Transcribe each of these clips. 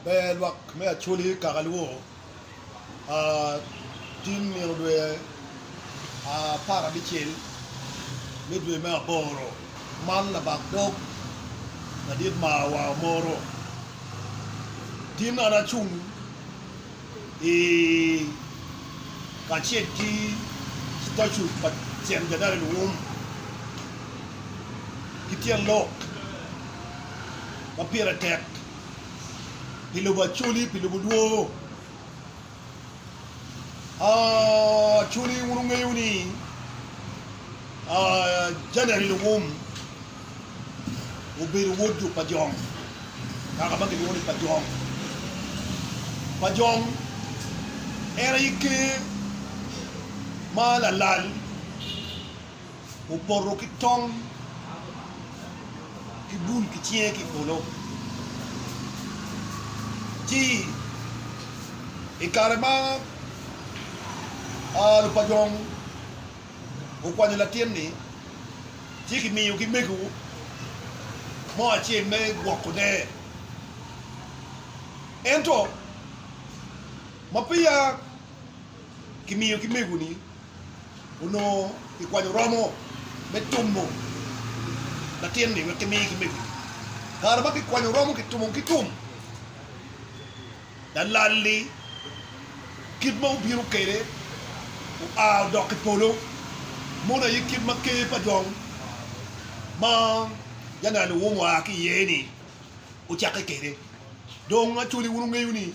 Ber lwak me Acholi kaka lubo, Tung nino dwe apar abicel me dwe me aboro, man labak dog madit ma wa omoro. Tin an acung i kacel ki stacu pa Cen Jadari Luwum ki tyen lok ma pire tek. pi lubo acoli, pi lubo lwor. Acoli wun wungeyo ni Janer Iluwum obedo wod jo Pajong, kaka ma kilwongo ni Pajong. Pajong en aye ker ma lalal. opoto ki tong ki bul ki cinge ki i polo. Ci i kare ma lupajong okwanyo latin-ni, ci kimiyogi mego mo acel me gwoko der. Ento ma peya kimiyogi mego-ni, onongo kikwanyo romo me tumo latin-ni wek kimiye ki mego-ni. Kare ma kikwanyo romo kitumo ki tum, lalal-li kit ma obino kwede oa odok i polo mono aye kit ma ker pa jong ma Janal Luwum oa ki iye-ni ocakke kwede. Dong acwali wun wungeyo ni,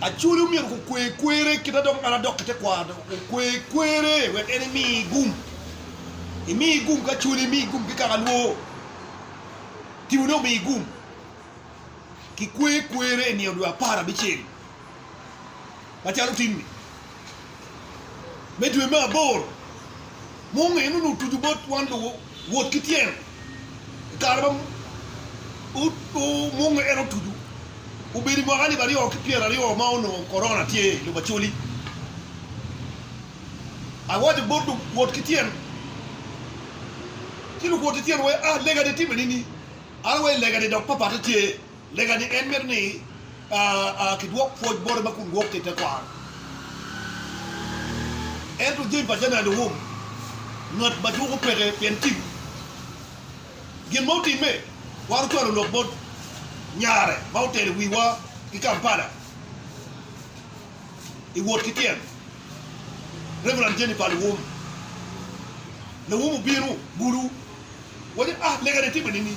Acholi omyero gukwe kwerre kit ma dok ngat adok ki tekwaro okwe kwerre wek en emi gum. Imi gum ki acholi, imi gum ki kaka lwor. Timone omi gum. Kikwe kwerre i nino dwe apar abicel macalo tinni. me dwe me aboro munge ni onongo otuco bot wan luwot ki tyen i kare ma munge en otuco obedo i mwaka alip aryo ki pyera aryo ma onongo korona tye i lobo Acholi. Awaco bot luwot ki tyen ci luwot ki tyen wee a lega de time nini? An awaco lega de dok papate tye Lega ni en mito ni kidwok pwoc bote ma kun gwokke i tekwaro. Ento jami pa caden owom ngat ma juko peke pien tim. Gin ma otimme twero cwalo lok bot nyare ma otelo wiwa ki Kampala i wot ki tyen, Reverend Jennifer Luwum. Luwum obino bulu waco, Ah, lega ni timme nini?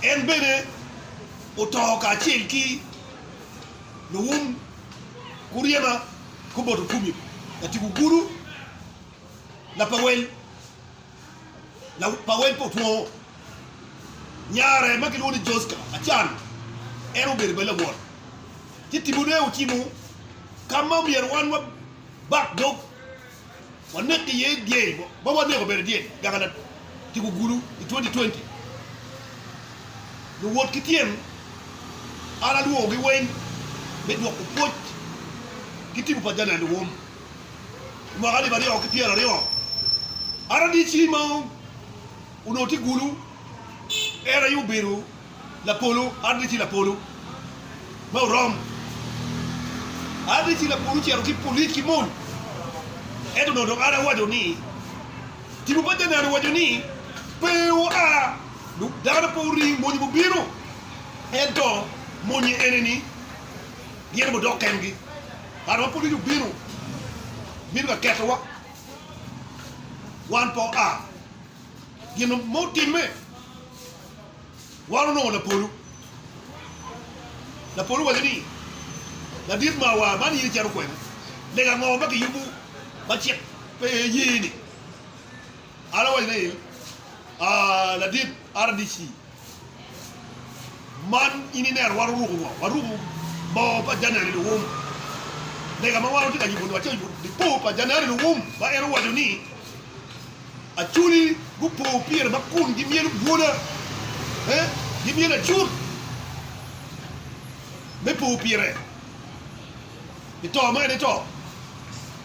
En bene oto kacel ki luwum Uriema, Kuboto, Fumi, Latiku Guru, Lapawel, Lapawel pa Otwongo. Nyare ma kilwongo ni Joska Acan, en obedo bene lawot. Ci timone ocimo ka ma omyero wan wabak dog. waneko iye dyei ma waneko obedo dyel gagala kigugulu i 2020. Luwot ki tyen an alwogogi weng me dwoko pwoc ki tipo pa Janet Luwum. I mwaka alip aryo ki pyera aryo, RDC ma onongo tye gulu en aye obedo Lapolo adde ci lapolo ma orom adde ci lapolo ocito ki polic ki mony ento nongo dong adde awaco ni tipo pa Canaan owaco ni pe oa dong dano pe oring mony gubino ento monye ene ni gin gudok kengi kare ma polic obino bino ka keto wa wan pe oa gin mo timme. Wan onongo lapolo. Lapolo waco ni, Ladit mawa, man in icito kwena? Lega ango ma kiyubo ma cik pe ye ni? An awaco ni, Aa, ladit RDC, man in ineno wan oruko ngo? Waruko bongo pa January luwum. Lega ma wan watye ka yubo-ni wacoyo dipo pa January luwum ma en owaco ni Acholi gupo pire ma kun gimyelo bwola, eh, gimyelo acut me po pire pi to ma en eto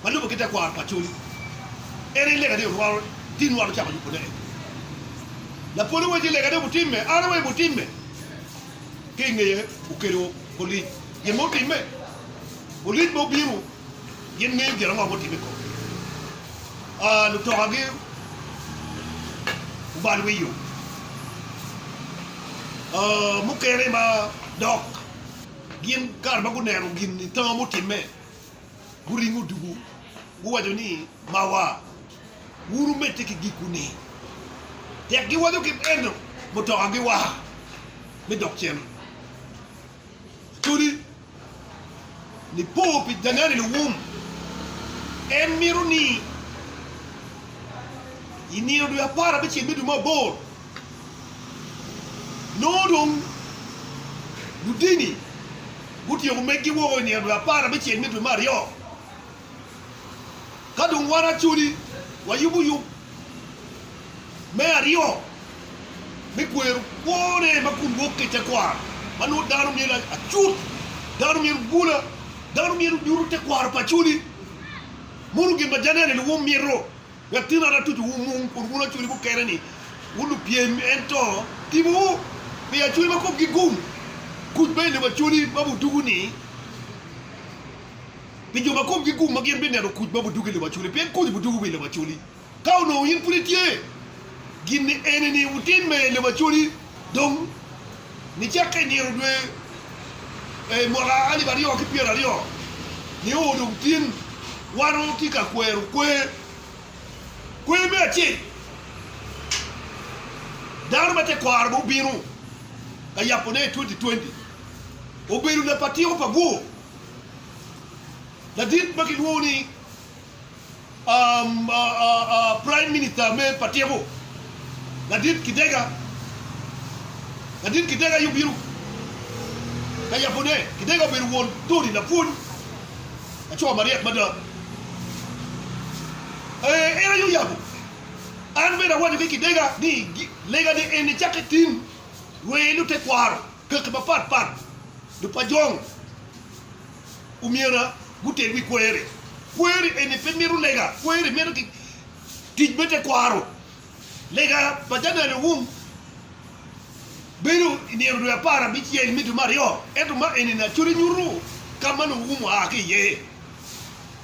ma lubo ki tekwaro pa Acholi. En aye lega ni orwaro tinwa lucawa lupone eni. Lapol owaco ni lega ni obutimme, an aweyo butimme. Ki ingeye okelo Olic gin ma otimme, Olic ma obino. Gin ngeyo gin ango ma gutimo i komgi. Lutokagi obalo wi yo mukene ma dok gin kare ma guneno gin ni tama mutimme, guringo dugu, guwaco ni, Mawa, wuru medde ki giku-ni! Tek giwaco ki meno, mutokagi wa me dok cen. Kodi nipo pi danani luwum, en mito ni i nino dwe apar abicel me dwe me aboro, nongo dong ludini gutyeko meggi woko i nino dwe apar abicel me dwe me aryo. Ka dong wan acoli wayubo yub me aryo me kwero kwone ma kun wok ki i tekwaro ma nongo dano myero acut, dano myero gula, dano myero nyuto tekwaro pa acoli. Munu gin ma Janelli-ni wumito wek tin an atuco wumung kun wun acoli mukene-ni wun lupyem ento tibowu pi acoli ma komgi gum. Kuc bene ni wa acoli ma wudugu-ni. pi jo ma komgi gum ma gin bineno kuc ma budug i lobo acoli, pien kuc budug wi lobo acoli. Ka onongo in pud itye, gin eni-ni wutim me lobo acoli dong nicakke i nino dwe i mwaka alip aryo ki pyera aryo, nio odong tin wano tye ka kwero kwer. Kwer me acel, dano ma tekwaro ma obino ka yabo ne i twenty twenty obedo lapatiko pa bwor. Ladit ma gilwongo ni Praim Minita me pa Tiko, Ladit Kidega, Ladit Kidega aye obino ka yabone. Kidega obedo won Tony lapwony ma co maryek mada. En aye oyabo. An bene awaco ki Kidega ni legane en ni cakke tin rweye lute kwaro. Kaki mapat pat Lupajong omyera guted wi kweri. Kweri eni pe mito lega, kweri mito ki tic me tekwaro. Lega pa January Owung bedo i nino dwe apar abicel me dwe me aryo, ento ma enini acwali nyuto ka ma Owung oa ki iye.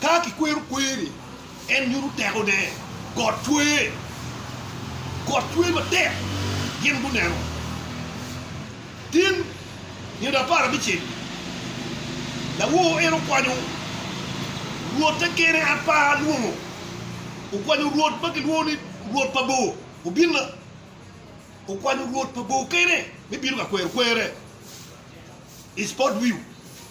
Ka kikwero kwer-ri, en nyuto tekone. Got cwer. Got cwer matek. Gin guneno tin nino apar abicel-li. Lawor en okwanyo rwotte kene apa lwongo. Okwanyo rwot ma kilwongo ni rwot pa bor. Obinna okwanyo rwot pa bor kene me bino ka kwero kwer-re i spot view.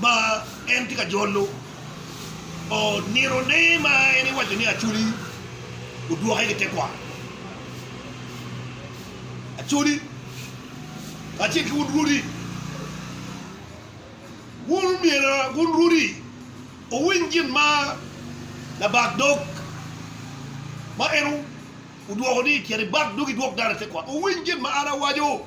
ma en tye ka jolo nino-ne ma en iwaco ni Acholi odwoke ki tekwaro. Acholi kacel ki wun rwodi, wun myero wun rwodi wuwiny gin ma labak dog ma en odwoko ni cit ibak dog idwok dano i tekwaro, wuwiny gin ma an awaco.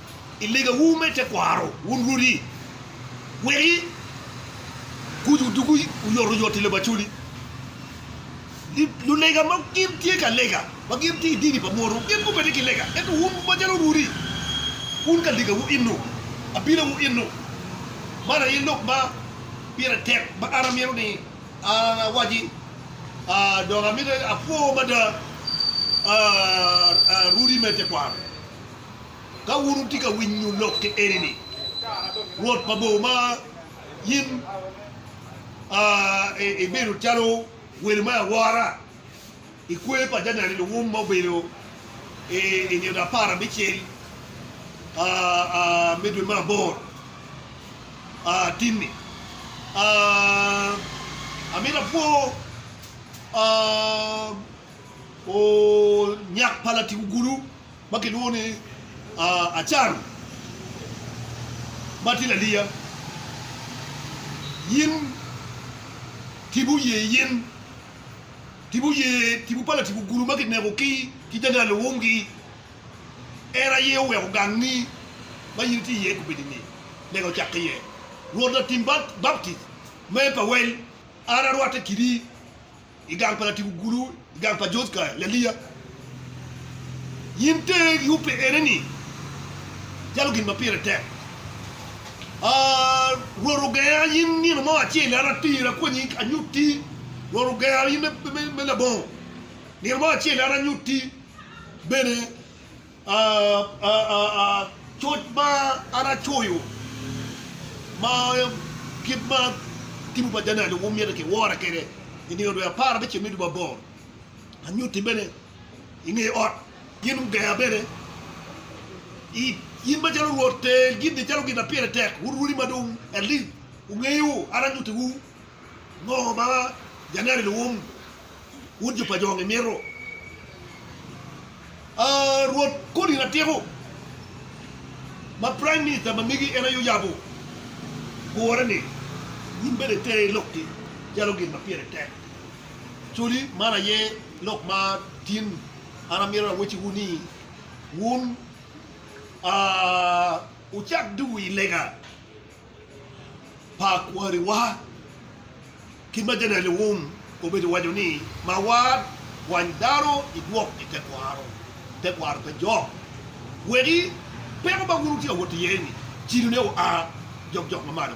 i legawu me tekwaro, wun rwodi, wek kuc odug oyotoyot i Lubacoli. Lulega ma gin tye ka lega, ma gin tye i dini pa munu, gin gubedde ki lega, ento wun macalo rwodi, wun ka legawu eno, abinawu eno. Man aye lok ma pire tek ma an amito ni awaci, dok amito apwo mada rwodi me tekwaro. Ka wun wutye ka winyo lok ki eni-ni, Rwot pa bor ma in ibedo calo welo me awora i kwer pa janene luwum ma obedo i nino apar abicel me dwe me aboro tin-ni, amito apwo onyak pa latic ogulu. ma kilwongo ni Acan ma tye laliya, in tipo ye in tipo ye tipo pa Latibo Gulu ma kineko ki ki Janga Luwumgi, en aye oweko gangi ma in itye iye kubedini lega ocakke iye. Rwot Latim Baptic me Pawel, an arwatte kidi I gang pa Latibu Gulu, i gang pa George Kaya, Laliya, in ter yubbe ene ni jalo gin ma pire tek. Aah, Rwot ogenga in nino mo acel an atir akwanyi anyutti, Rwot ogenga in me labongo, nino mo acel an anyutti bene Coc ma an acoyo ma kit ma tibu pa Janer luwum myero kiwora kwede i nino dwe apar me ceng me dubu aboro, anyutti bene i nge ot, gin gugeya bene it. In macalo Rwot, tel gin-ni calo gin ma pire tek, wun rwodi ma dong at least wungeyo, an anyuttiwu Ngo ma January Luwum wun jo pa jo ngi mito? Aa Rwot kodi Ratiko ma Prime Minister ma megi en aye oyabo gure ni wun bene iter i lok-ki calo gin ma pire tek. Codi man aye lok ma tin an amito awecciwu ni wun aa wucak duu i lega. pa kwariwa. Kit ma janeno wun obedo waco ni mawar kwany dano idwok i tekwaro, tekwaro pe jok wegi peko ma wun wutye ka wot iye ni cilone oa jokjok mamalo.